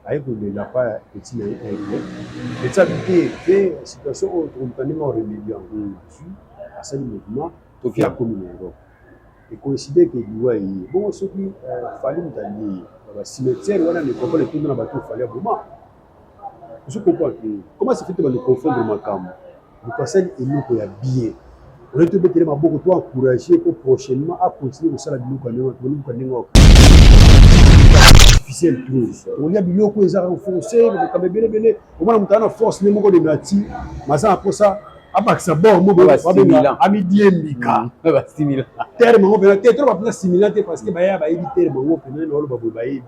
aye kolela pa petit na ye aigle petit abike pe situation oyo tokomutani ma rebellion azwi asali mouvement toki akomi na europe ekoincide ke liwa eye bongo soki euh, fali moto alie ye na bacimetiere wana na ekoko na etondo na bato fali aboma ozo comprendre comment se fait bano confondre makambo Bokasani eloko ya bien oye tobetele maboko to encourage po prochainement a continue kosala biloko ya ndenge toboni buka ndenge artificiel plus olia biloko oyo ezaka koforce makambo ebele ebele omona moto ana force nde moko dende ati maza na mposa abakisa bor mokoabenga amidiembika terme yango mpena te toloba mpena similan te parce que bayaya bayebi terme yango mpena naoloba boye bayebi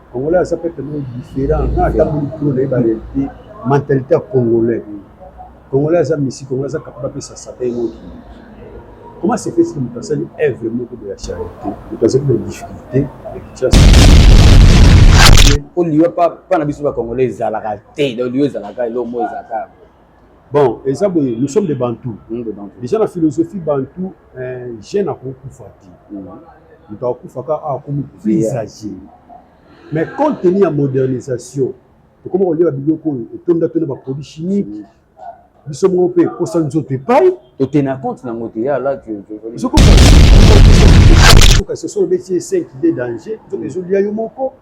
Congolais aza pe tellement différent na atamboli kilo na ye barealité mentalité ya congolais congolais aza misi congolais aza kapaba apesa sata ye moki comment se fait moto asali œuvre moko de la charité moto azali na difficulté ya kinshasa mpo liwa mpa na biso bacongolais ezalaka te donc liwa ezalaka eloko moko ezalaka Bon, eza boye, nous sommes des Bantous. Mmh, des Bantous. Déjà na philosophie Bantou, euh, jeune akokufa te. Mmh. Moto akufaka akomi plus âgé. Mais compte tenu ya modernisation, tokoma kolia biloko oyo etonda to na ba produits chimiques. Biso moko mpe posa nzoto epai. Totena compte nango te ya la soki obeti 5 de danger nzoka ezolia yo moko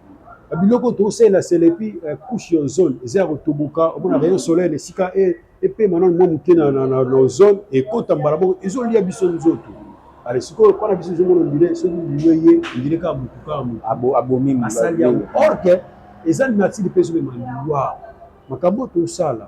biloko tosalela selepi eh, couche ya ozone eza ya kotoboka omona rayon soleil esika e, epema nano mwa moke na ozone ekota mbala moko ezolia biso nzoto ale sikoyo mpo na biso ezomona ondire soki lino ye ondire kaka motu kaka motu abomi asali yango orke eza nature mpe ezomema liwa makambo tosala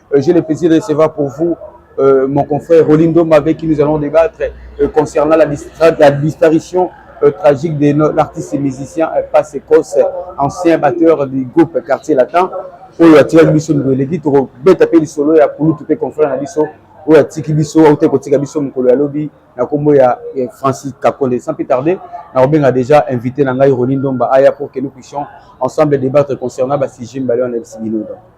Euh, j'ai le plaisir de recevoir pour vous euh, mon confrère Rolindo Mavé qui nous allons débattre euh, concernant la, la disparition euh, tragique de l'artiste et musicien euh, Pasekos, ancien batteur du groupe Quartier Latin. oyo atikaki biso mikolo eleki tokobeta mpe lisolo ya kulutu mpe confrère na biso oyo atiki biso auta kotika biso mokolo ya lobi na nkombo ya eh, francis kakonde sans plus tarder nakobenga déjà invité na ngai roni ndomba aya pour que nous puissions ensemble débattre concernant basujet mibale wana ebisi bino donc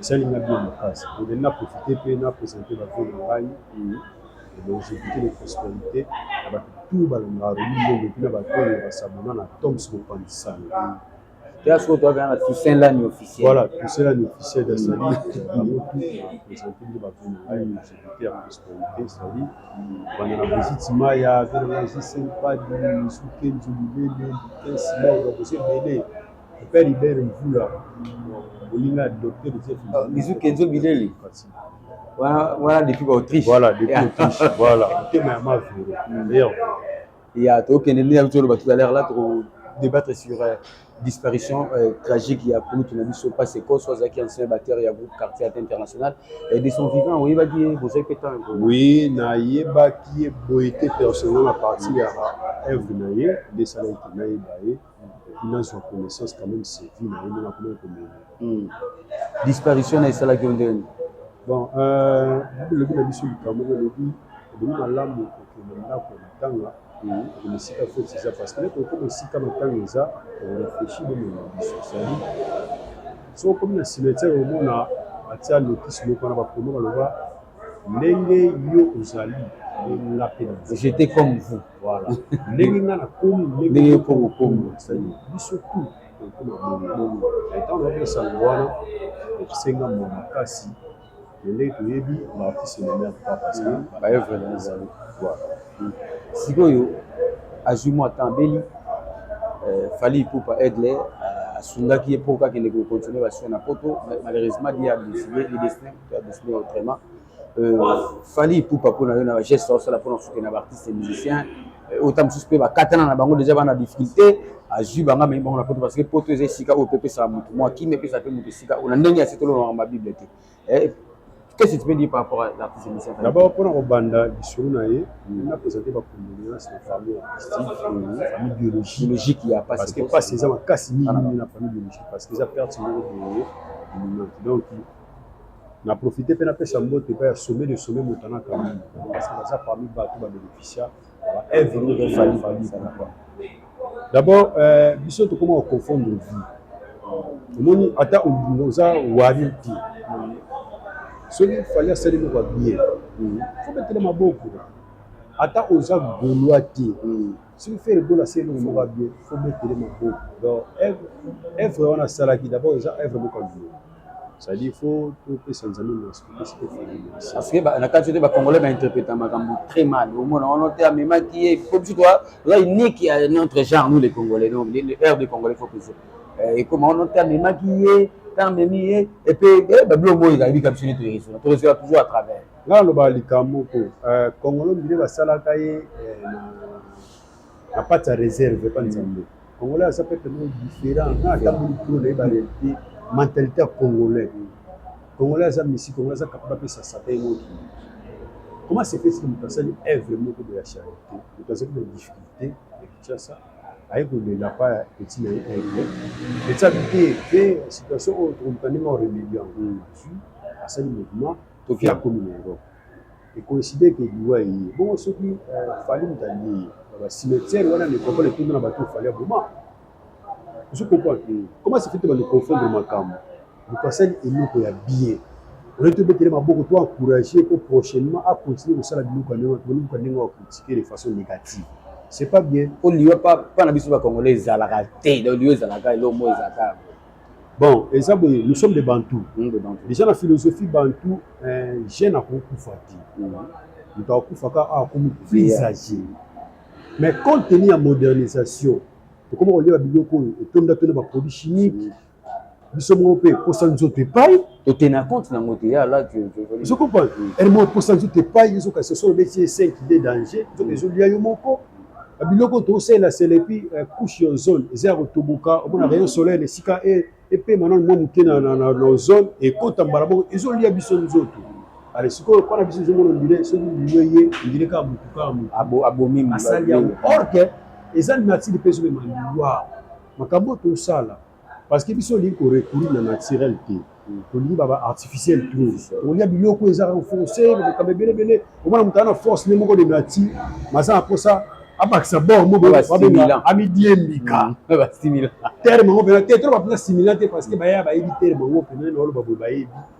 Esali nga bien makasi donc na profite pe na presente ba vues na ngai donc je goute les prosperites ya batu tout balingaka Romy Ndombe epuis na batu oyo ba s'abonna na Toms Mopanzi Sani. Toya sikoyo toya bengana Toussaint Lani officiel. Voilà Toussaint Lani officiel ezali bango tout na presente nde ba vues na ngai donc je goute ya prosperites ezali banda na Brigitte Maya, Veronique Sempadi, Misu Kenzo, Lilele, Lutens, Laura boza ebele. Père Hubert Mvula olingi adopter de cette façon. Bisous Kenzo Bileli. Wana wana depuis ba Autriche. Voilà, depuis Autriche. Voilà. Tema ya ma vero. D'ailleurs, ya tokende nde na toloba tout à l'heure là toko débattre sur euh, disparition euh, tragique ya kulutu na biso pasi ekoso azalaki ancien batteur ya groupe quartier ate international euh, de son vivant oyebaki ye bozalaki mpe temps oui nayebaki ye boye te personnel na parti ya œuvre na ye nde esalaki nayeba ye epuis nazwa connaissance quand même c'est vie na yo ndenge akomaki komela hmm. disparition na esalaki yo ndenge bon euh, lobi na biso likambo moko elobi ebongi malamu kokende ndako ya matanga kokende esika feti eza parce que neti okoma esika matanga eza oreflechi bomema biso sali soki okomi na cimetière omona batia notisi moko wana bakomi baloba ndenge yo ozali nga mpe j'étais comme vous voilà ndenge nga nakomi ndenge mpo kokomi biso tout tokoma bongo ntango nayoki esango wana ekisenga mwa makasi ndenge toyebi baartiste na mer pas parce que baevre na ezali voilà sikoyo azwi mwa temps abeli euh, fali ipupa aigle asungaki ye mpo kakende kocontinue basio na poto malheureusement dia décidé le destin Doucement, vraiment. Euh, Fally Ipupa mpo na yo na bageste osala mpo na kosutena baartiste musicien ota mosusu mpe bakatana na bango deja bana difficulté azwi banga amemi bango na poto parce que poto eza esika oyo mpe epesaka motu mwa kimia epesaka mpe motu esika oyo na ndenge ya sitolo na ma bible te eh, qu'est-ce que tu peux dire par rapport à l'artiste musicien d'abord mpo na kobanda lisolo na ye mm. na présente bacondoléance na famille artistique mm. famille biologie logique ya pasi parce que pasi eza makasi mingi na famille biologique parce que eza perte moko boye donc Na profite pe napesa mbote epai ya sommet de sommet Montana Kamini parce que baza parmi bato ba beneficia ba œuvre oyo ya Fally Fally ezala quoi. D'abord euh, biso tokoma ko confondre vie omoni ata oza wari te soki Fally asali moko ya bien fo betela maboko ata oza golois te soki fere gola asali eloko moko ya bien fo betele maboko donc œuvre wana asalaki d'abord eza œuvre moko ya bien cest faut topesa nzambe merci topesa mpe fali merci parce que na kati te bacongolais bainterpreta makambo très mal omona wana te amemaki ye po biso toa oza unique ya notre genre nous les congolais donc le heure de congolais faut pese ekoma wana te amemaki ye ta amemi ye epe babilo moi ezali bika biso nde toyeresona toresona toujours à travers nga naloba likambo ko congolo mbile basalaka ye na na pati ya reserve epa nzambe congolais aza peuple moko différent nga atamboli kilo na ye barealité mentalité ya congolais congolais aza misi congolais aza kapaba apesa sata ye moko comment se fait que moto asali œuvre moko boya charité moto azali na difficulté ya kinshasa aye kolela pa ya petit na ye aigle petit abite pe situation oyo tokomita ndenge oremedi yango asali mouvement toki akomi na europe e coïncider que liwa eye bongo soki euh, fali moto alie ye na bacimetière wana necropole etondi na bato fali aboma ozo comprendre te comment se fait te banoconfondre makambo moto asali eloko ya bien oye tobetele maboko to encourage po prochainement acontinue kosala biloko ya ndenge toluka ndenge ya critique de façon négative c'est pas bien po liwa pa na biso bacongolais ezalaka te donc liwa ezalaka eloko moko ezalaka Bon, eza boye, nous sommes des Bantous. Mmh, des Bantous. Déjà na philosophie Bantou, euh, jeune akokufa te. Mmh. Moto akufaka akomi plus âgé. Mais compte tenu ya modernisation, tokoma kolia biloko oyo etonda to na ba produits chimiques. Biso moko mpe posa nzoto epai totena compte nango te ya la ozo comprendre elmo posa nzoto epai ezoka sosolo beti esenki de danger nzoka ezolia yo moko biloko tosalela selepi eh, couche ya ozone eza ya kotoboka omona rayon soleil esika e, epema nano mwa moke na ozone ekota mbala moko ezolia biso nzoto ale sikoyo mpo na biso ezomona ondire soki lino ye ondire kaka motu kaka motu abomi asali yango orke eza nature mpe ezomema liwa makambo tosala parce que biso olingi korecourir na naturel te tolingi baba artificiel trop olia biloko eza kaka force makambo ebele ebele omona moto aza na force nde moko de nati maza na mposa abakisa bor moamidiembika terme yango mpena te toloba mpena similan te parce que baya bayebi terme yango mpena naoloba boye bayebi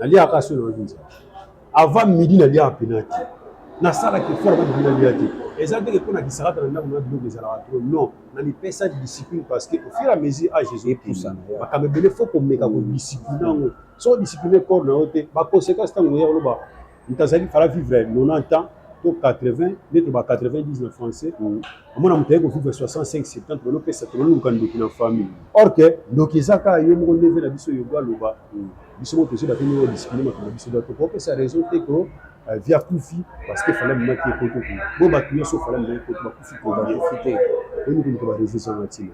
naliaka so nayoki nzala avant midi naliaka mpena te nasalaka efort na bibina lia te eza ndenge mpo na kisakata na ndako na biloko ezalaka tro non na mipesa discipline parce que au fur et à mesure age ezopusana makambo ebele fo komeka kodiscipline yango soki odiscipline corps na yo te baconséquence ntango oya koloba moto azali fala vivre 90 ans to 80 nde to ba 90 na français mm. amona moto aye kovivre 65 70 balopesa tololuka ndoki na famille or ke ndoki eza kaka yo moko ndeve na biso yogo aloba mm. biso moko tozoba te nio discipline makambo na biso donc okopesa raison te ko euh, via kufi parce que fala minaki ekoto kuna bo bato nyonso fala minaki ekoto bakufi kobakufi te oyini komito bareseau eza na ntina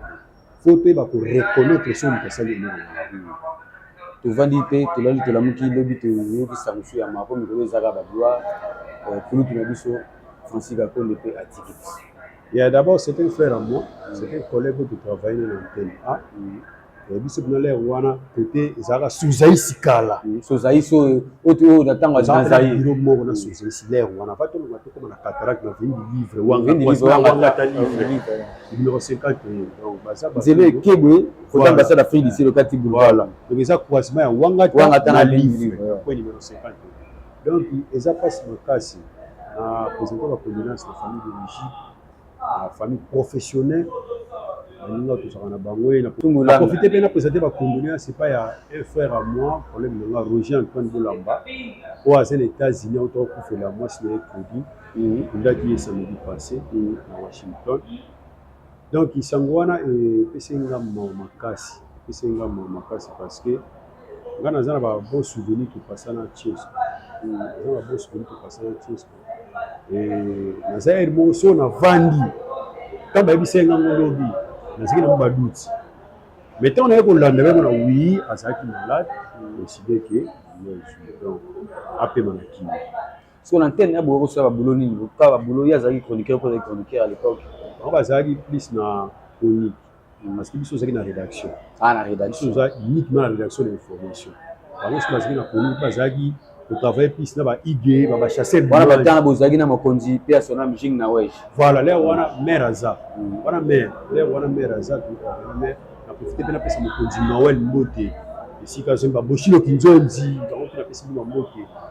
faut toyeba ko reconnaître soki moto asali eloko malamu tovandi te tolali tolamuki lobi toyoki sangusu ya mako mikolo ezaka baglwa euh, kulutu na biso francis gakonde mpe atiki biso ya d'abord c'est un frère à moi c'est un collègue oyo totravaille na antenne a eh, biso kuna lere wana kote ezalaka sozaisi kala sozaisi oyo oyo na ntango azazabiro moko na sozaisi lere wana va tolonga tokoma na cataracte na vindi livre wanga livre numéro 50 donc baza ba nzela ekebwe kota ambassade afrique du sud okati boulevard donc eza croisement ya wangata wangata na livre point numéro 50 donc eza pasi makasi na présenter ba condoléances na famille d'origine na famille professionnelle baninga tozalaka na bango ye naprofite mpe na présenter ba condoléances epai ya un frère à moi problème nanga roger antoine bolamba oyo aza na états-unis autaka kufela mwasi na ye claudie Olaki ye samedi passe na Washington. Donc sango wana epesaki nga mawa makasi, epesaki nga mawa makasi parce que nga naza na ba bon souvenir topasana Chesco, naza na bon souvenir topasana Chesco. Naza ere moko so navandi, ntango bayebisaki nga ngo lobi, nazalaki na mwa baduti mais ntango naye kolanda yango na wi azalaki malade, oside ke apema na kini siko na ntene ya boye okosala babulo nini lokuta babulo ye azalaki chroniqueur mpo azalaki chroniqueur à l'époque bango bazalaki plus na chronique parce que biso ozalaki na rédaction ah na rédaction oza uniquement na rédaction de information bango soki bazalaki na chronique bazalaki kotravaille plus na baige babachasse wana batanga bozalaki na mokonzi mpe ya sona mjing na wege voilà lere wana maire aza mm. wana maire lere wana maire aza maire na profite mpe napesa mokonzi noel mbote esika azomba boshilo kinzonzi bango mpe napesi bino bambote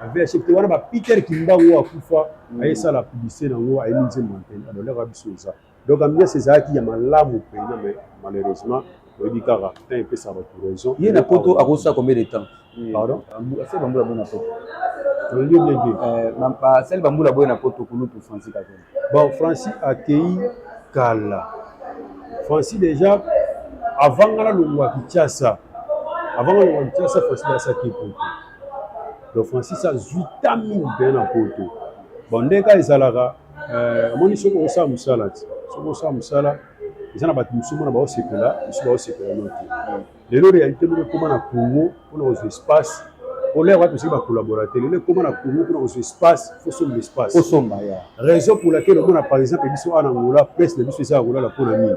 avc te wana ba peter kimbangu oyo akufa mm. ayesala publicité na yango ayemi nzembo mpena alors leka biso eza donc ambiance ezalaki ya malamu mpena mais malheureusement oyebi kaka temps epesaka bato raison ye na poto akosala combien de temps mm. pardon asali bambula boye na poto olingi bien te basali bambula boye na poto kulutu francis kakena Bon Francis akeyi kala. Francis deja avant nga nalongwa Kinshasa, avant nga nalongwa Kinshasa, Francis deja asaki poto. Donc Francis azwi temps mingi mpenza na poto. Bon nde kaka ezalaka euh, omoni soki okosala mosala ti soki osala mosala eza na bato mosusu mona baosepela mosusu baosepela yo te lelo réalité moko ekoma na congo mpona kozwa espace olaya wapi osiki bacollaborateur lelo ekoma na congo mpona kozwa espace fosomba espace osomba ya raison pour laquelle omona par exemple biso awa na angola presse na biso eza ya kolala mpona nini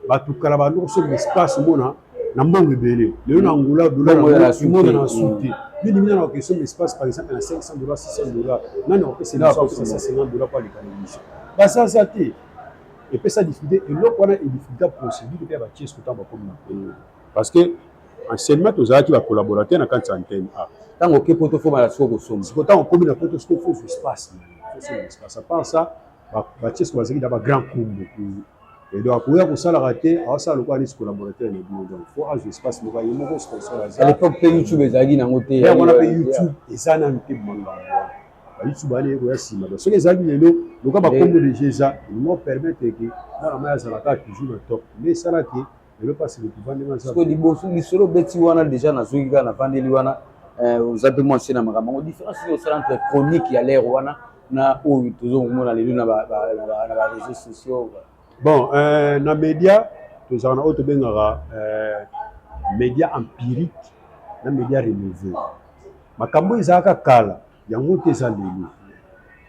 bato kala bando kosomba espace omona na mbango ebele lelo na angola dolarmonana na su te nini mina na okesomba espace par exemple na 500 dollars 600 dollars nani akopesa emission akopesa 150 dollars mpo aleka na emission bazaza te epesa difficulté eloko wana edificulta procédure mpe ya batiese kotanga bakomi na mpenyo parce que anciennement tozalaki bacollaborateur na kati ya antenne a ntango oke poto fomala siko kosomba siko ntango okomi na poto siko fosu espace espace à part ça batiese bazalaki na bagrand kumbu et donc akoya kosalaka te awasala lokola neti collaborateur na bino donc fo azwa espace moko ye moko sponsor aza à l'époque mpe youtube ezalaki nango te yango wana mpe youtube eza nanu te mangambo bayusu bana ye koya nsima donc soki ezalaki lelo loka bakombo deja eza elingo permettre ke mwana mai azalaka toujours na top nde esala ke lelo mpasi lokuva ndenge aza liboso lisolo obeti wana deja nazwiki kaka navandeli wana eh, oza mpe mwa nse na makambo yango différence oyo osala entre chronique ya lere wana na oyo tozo komona lelo na bareseau sociaux bon euh, na média tozalaka na oyo tobengaka euh, média empirique na média renouveau makambo oyo ezalaka kala yango te eza lelo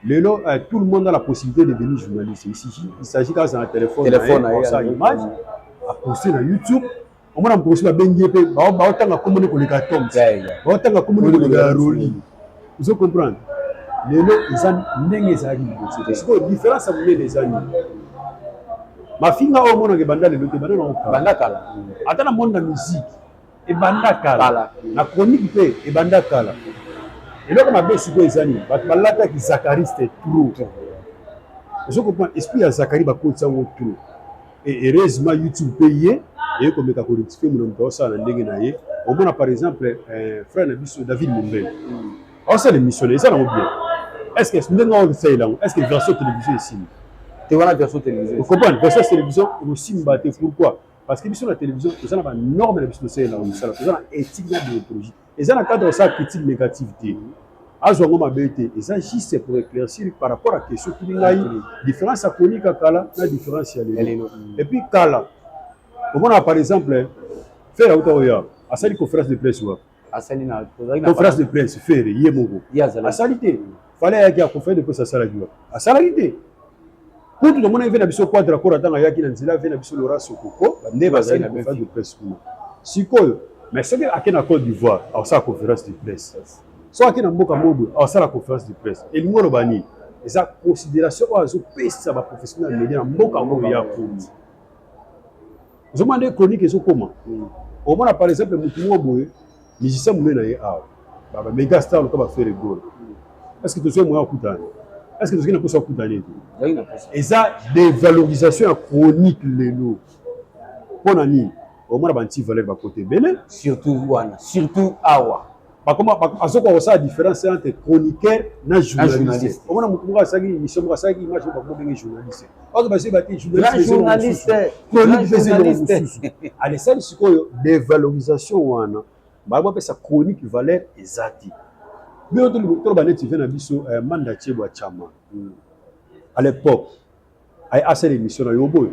lelo eh, tout le monde a la possibilité de devenir journaliste il s'agit kaka na téléphone na ye image aposte na youtube omona moto mosusu babengi ye mpe baotanga komoni koleka toms baotanga komoni koleka roli ozo comprendre lelo eza ndenge ezalaki liboso te sikoyo différence ya monene eza nini mafinga oyo omonaka ebanda lelo te banda na kala ata na monde na musique ebanda kala na chronique mpe ebanda kala eloko mabe sikoyo eza nini bato balataki zakariste trop ozokopa esprit ya zakari bakotisa yango trop e heureusement youtube mpe ye eye komeka korectifie mona moto aosala na ndenge na ye omona par exemple eh, frère na biso david mombele hmm. aosala émission na eza nango bien est ce que ndenge aosalela yango est ce que version télévision esili te wana version télévision okomprendre version télévision ekosimba te pourquoi parce que biso na télévision toza na ba norme na biso tosalela yango misala toza na éthique na déontologie eza na cadre osala critique négative te azwa yango mabe te eza juste pour éclaircir par rapport à question tuni ngai différence ya konika kala na différence ya lelo et puis kala omonaka par exemple fere auta oya asali conférence de presse wapi asali na tozali na conférence de presse fere ye moko asali te fale ayaki ya conférence de presse asalaki wapi asalaki te kutu tomonaki mpe na biso quadra kora ntango ayaki na nzela mpe na biso lora sokoko nde bazali na conférence de presse kuna sikoyo mais soki ake na cote d'ivoire akosala conférence de presse soki ake na mboka mobo akosala conférence de presse elingi oloba nini eza considération oyo azopesa baprofessionnel ya media na mboka oyo ya komi ozomona nde chronique ezokoma mm. omona par exemple motu moko boye musicien monene na ye awa baba mega star loka bafere gol est ce que tozwi moya okutana est ce que tozwi na mposa okutana ete eza dévalorisation ya chronique lelo mpo na nini omona banti valeur bakote ebele surtout wana surtout awa bakoma azokoka kosala différence entre chroniqueur na journaliste omona motu moko asalaki émission moko asalaki image moko bakoma ndenge journaliste oyo basi bati journaliste chronique pese eloko mosusu alesali sikoyo devalorisation wana baya bapesa chronique valeur eza te bino toloba neti ve na biso eh, manda chebwa chama hmm. à l'époque Aye asala emission na yo boye.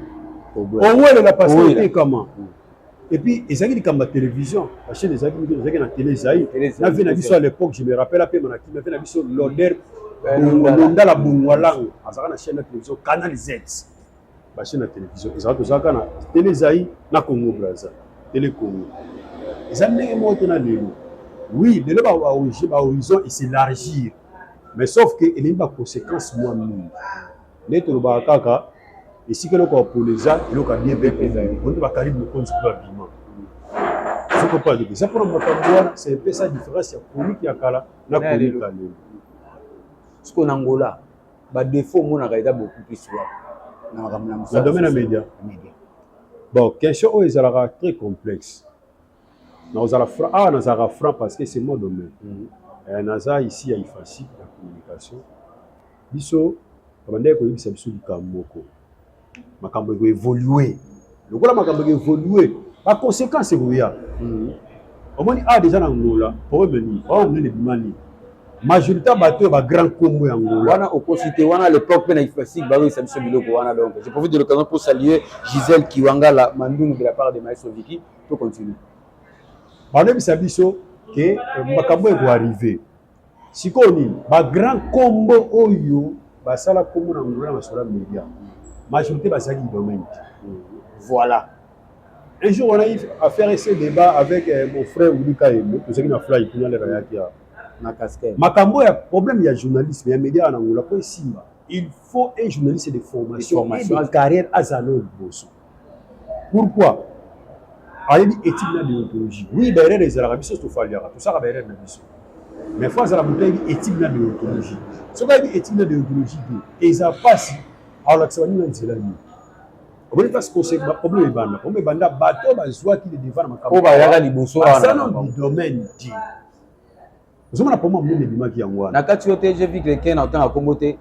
Owele na pasi te kama. Et puis ezalaki likambo ya télévision. La chaîne ezalaki mike ezalaki na télé ezai. Na vie na biso à l'époque je me rappelle ape na kimia vie na biso l'odeur londala bongwalang azalaka na chaîne ya télévision Canal Z. Ba chaîne ya télévision ezalaka tozalaka na télé ezai na Congo Brazza. Télé Congo. Eza ndenge moko te na lelo. Oui, lelo ba horizon eselargir. Mais sauf que elingi ba conséquences mwa mingi. nde tolobaka kaka esika eloko ya polo eza eloko ya bien peuple eza yango nde bakalibi mokonzi mpe babima soki opaa ndeko eza mpona makambo wana c'est un peu ça différence ya chronique ya kala na chronique ya lelo siko na ngola badefaut omonaka eza bokutisi wapi na makambo na domaine ya média bon question oyo ezalaka très complexe nakozala franc awa nazalaka franc parce que c'est mon domaine mm. eh, naza ici ya ifasi ya communication biso abandaki koyebisa biso likambo moko makambo ekoevolue lokola makambo ekoevolue baconséquence ekoya mm. omoni awa ah, deja na ngola problème nini problème nini ebima nini majorité ya bato oyo bagrand nkombo ya ngola wana okosi te wana lepoque mpe na ifasique bakoyisa biso biloko wana donc je profite de l'occasion pour saluer gisèle kiwangala mandungu de la part de maestro viki to continue balobisa biso ke eh, makambo ekoarrive sikoyo nini bagrand kombo oyo basala kombo na ngula na masolo ya media majorité bazalaki domaine te voilà un jour wana affaire ese débat avec euh, mon frère ulika yembe tozalaki na fly kuna lelo ayaki ya na casquette makambo ya problème ya journalisme ya media wana ngula mpo esimba il faut un journaliste de formation, formation. et de carrière azala oyo liboso pourquoi ayebi éthique na déontologie oui baerreur ezalaka biso tofaliaka tosaka baerreur na biso mais fo azala moto ayebi éthique na déontologie soki ayebi éthique na déontologie te eza mpasi alakisa baninga nzela nini oboni mpasi koseki baproblème ebanda problème ebanda bato bazwaki le devant na makambo bayaka liboso wana domaine te ozomona poma mimi ebimaki yango wana na kati yo te je vis quelqu'un na otanga kombo te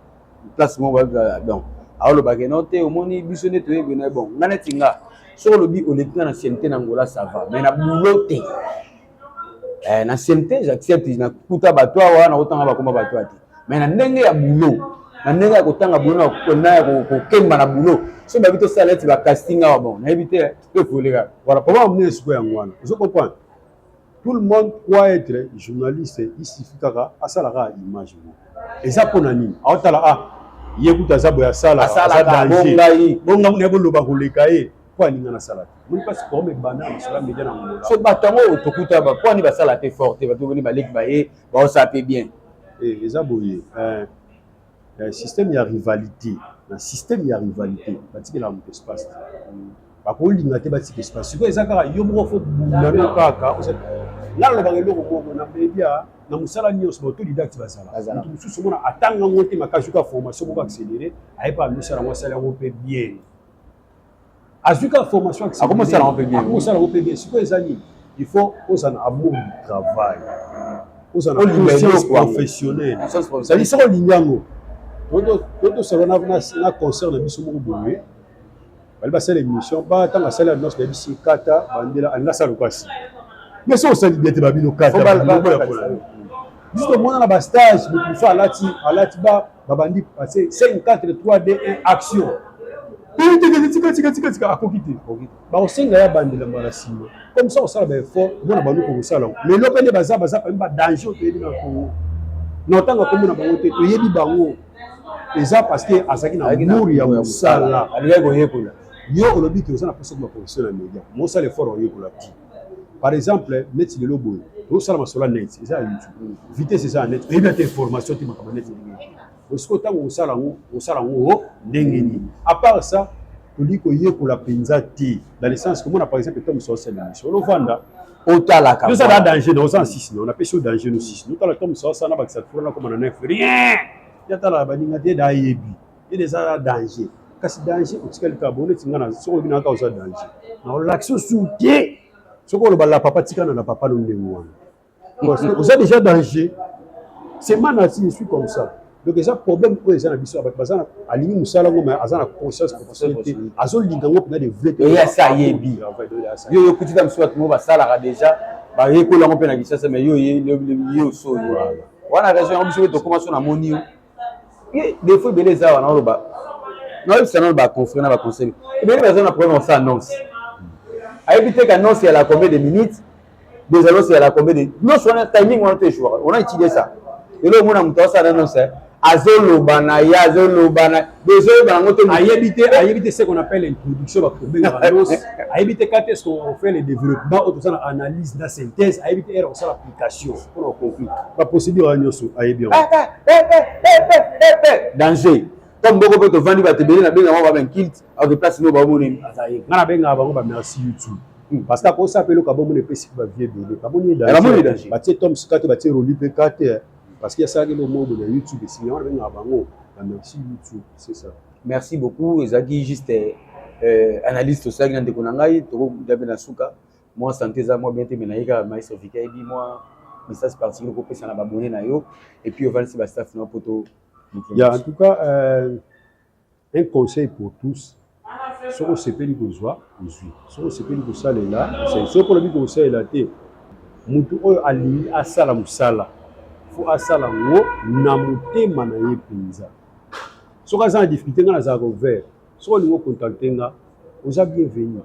place moko babika donc aolobaka no te omoni biso nde toyebi na bon nga neti nga soki olobi oleki nga na siente na ngola ça va mais na boulot te eh, na siente j'accepte nakuta bato awa nakotanga bakoma bato ya te mais na ndenge ya boulot na ndenge ya kotanga boulot na ya kokemba na boulot soki babi tosala neti bacasting awa bon nayebi te ekoleka voilà papa omoni esiko yango wana ozo comprendre tout le monde croit être journaliste il suffit kaka asala kaka image moko eza mpo na nini aotala ah ye kutu aza boye asala aza danger bonga muna boloba koleka ye mpo alinga nasala te moni mpasi forme ebanda na masolo ya media na mongola so bato yango tokuta mpo ani basala te fort te bato boni baleki baye baosala mpe bien eh, eza boye eh. Eh, système ya rivalité na système ya rivalité batikelaka moto espace te bakolinga te batika espace sikoyo eza kaka yo moko fo bunano kaka nga nalobaka eloko moko na media na mosala nyonso baautoridacte bazala moto mosusu omona atanga yango te makasi oka formation moko accéléré ayeba amisa yango asala yango mpe bien azwi kaka formation akomosala yango mpe bien akosala yango mpe bien sikoyo eza nini il faut ozala na amour du travail ozala na conscience professionnelle ezali soko olingi yango totosala na concert na biso moko boye bali basala émission ba ntango asali annonce na bisi kata bandela alingi asala lokasi mais soki osali bien te babino kata biso tomonana bastage moto mosusu alati alati ba babandi passe 5 4 3 2 1 action tikatikatikatikatika akoki te bakosenga ya bandela mbala nsima comme ça osala baeffort omona baluki kosala yango lelo mpe nde baza baza pami badanger oyo toyebi na kongo na otanga komona bango te toyebi bango eza parce que azalaki na mur ya mosala alingaki koyekola yo olobi ke oza na mposa koma profession na media mosala effort oyekola ti par exemple neti lelo boye tosala masolo ya net eza ya youtube vitesse eza ya net oyebi ata information te makambo net ndenge osiko ntango kosala yango kosala yango o ndenge nini apart ça tolingi koyekola mpenza te na licence komona par exemple ntango mosusu osala emission olovanda otalaka oza na danger na oza na sisi na onapesi yo danger no sisi notala ntango mosusu osala na bakisa fula nakoma na nef rien yatala baninga te dayebi ile eza ya danger kasi danger otikali kaka bongo neti nga na soki olobi na kaka oza danger na olakisi osu te soki oloba la papa tikana na papa no ndenge wana oza déjà danger c'est ma nature je suis comme ça donc eza problème oyo eza na biso ya bato baza na alingi mosala yango ma aza na conscience professionnel te azolinga yango mpena de vrai te eyasi ayebi yo yokuti ta mosusu bato moko basalaka déjà bayekola yango mpe na kisasa mais yo yo osoyo wana raison yango biso mpe tokoma so namoni yo ye defo ebele eza wana oloba naoyebisa nano baconfrere na baconseil ebele baza na problème osa annonce ayebi te qu'annonce ya la combien de minutes des annonces ya la combien de nyonso wana timing wana to ejouaka on a étudié ça lelo omona moto asala annonce eh. azoloba na ye azoloba na bozoyeba yango te ayebi te ayebi te ce qu'on appelle introduction bakobela annonce ayebi te quand est ce qu'on fait le développement oyo tosala analyse na synthèse ayebi te ere kosala Cassio, on a compris. La procédure à Nyosu, aïe bien. Danger. Comme beaucoup peut te vendre, va te bénir, la bénir, on va bien kilt, à des places, nous, va vous donner. Nana benga, avant, on va merci YouTube. parce que akosa apele okabo mona epesi mpe bavie ebele kamoni danger batie tom sikate batie roli mpe kate parce que asalaki lomobo na youtube esinya wana bengaka bango na merci youtube c'est ça merci beaucoup ezalaki juste euh, analyse tosalaki na ndeko na ngai tokokuta mpe na suka mwa sante eza mwa bien te mais naye kaka maestro vika yebi mwa message particulier kopesa na babone na yo et puis ovalisi bastaff na yo mpo to ya en tout cas euh, un conseil pour tous soki osepeli kozwa ozwi soki osepeli kosalela osali soki olobi kosalela te motu oyo alingi asala mosala fo asala yango na motema na ye mpenza soki aza na difficulté ngai nazalaka ouvert soki olingi ocontacte nga oza bienvenu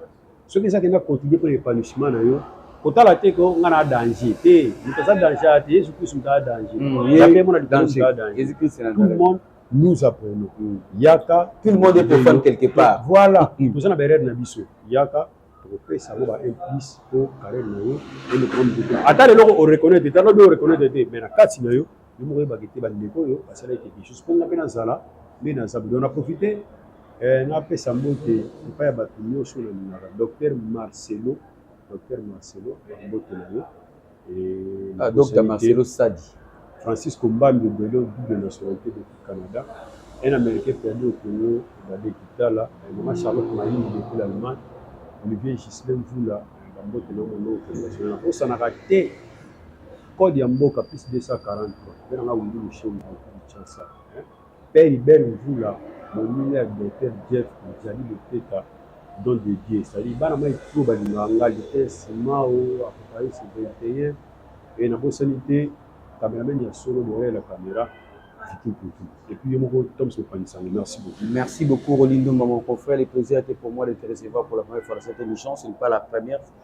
soki eza kenda continue mpo na épanouissement na yo kotala te ko nga na danger te moto aza danger ya te yesu kristu moto aza danger hmm, yape mona likolo moto aza danger tout le monde nous apprenons hmm. yaka tout le monde est profane quelque part voilà hmm. toza na baerreur na biso yaka tokopesa yango ba implice mpo carrière na yo elokoma moto te ata leloko oreconnaitre te ata lobi oreconnaitre te mais na kati na yo yo moko oyebaka ete bandeko oyo basalaki quelque chose mpo nga mpe nazala nde na zabu donc na profite eh, napesa mbote epai ya bato nyonso oyo nalingaka docteur marcelo docteur marcelo mbote na yo ah, docteur marcelo sadi francisco mbambi obelo double nationalité depuis canada un américain perdu au congo bade kitala mama charlotte mayini depuis l'allemagne olivier gislem vula bambote na mono okonationala nabosanaka te Code ya mboka plus 243 mpe na nga Willy Mushombo mokili Kinshasa Père Hubert Mvula moninga ya Docteur Jeff Mzali Luteta Don de Dieu c'est-à-dire bana mai trop balingaka nga Lutens Mao Apocalypse 21 et nabosani te cameraman ya solo derrière la camera Tiki Kutu et puis yo moko Tom Sopangisango merci beaucoup Merci beaucoup Rolindumba mon confrère le plaisir était pour moi de te recevoir pour la première fois dans cette émission ce n'est pas la première fois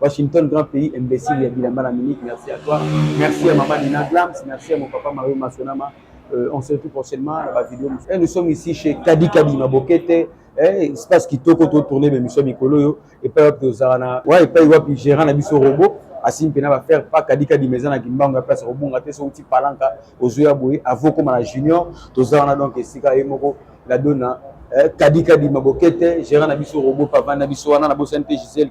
Washington, grand pays, imbécile, ya bilamba na minute. Merci à toi. Merci à Maman Nina Glams. Merci à mon papa Mario Masonama. Euh, on se retrouve prochainement dans la vidéo. Et eh, nous sommes ici chez Kadi Kadi Mabokete. Eh, eh, espace qui toko to tourner mais monsieur Mikolo yo et pas wapi ozana. Ouais, et pas wapi gérant na biso robot. asimpe na bafaire pa kadi kadi meza na kimbango ya place kobonga te so uti palanka ozwi ya boye avo koma na junior toza wana donc esika ye moko la dona eh, kadi kadi mabokete gérant na biso robot pavane na biso wana na bosani te gisele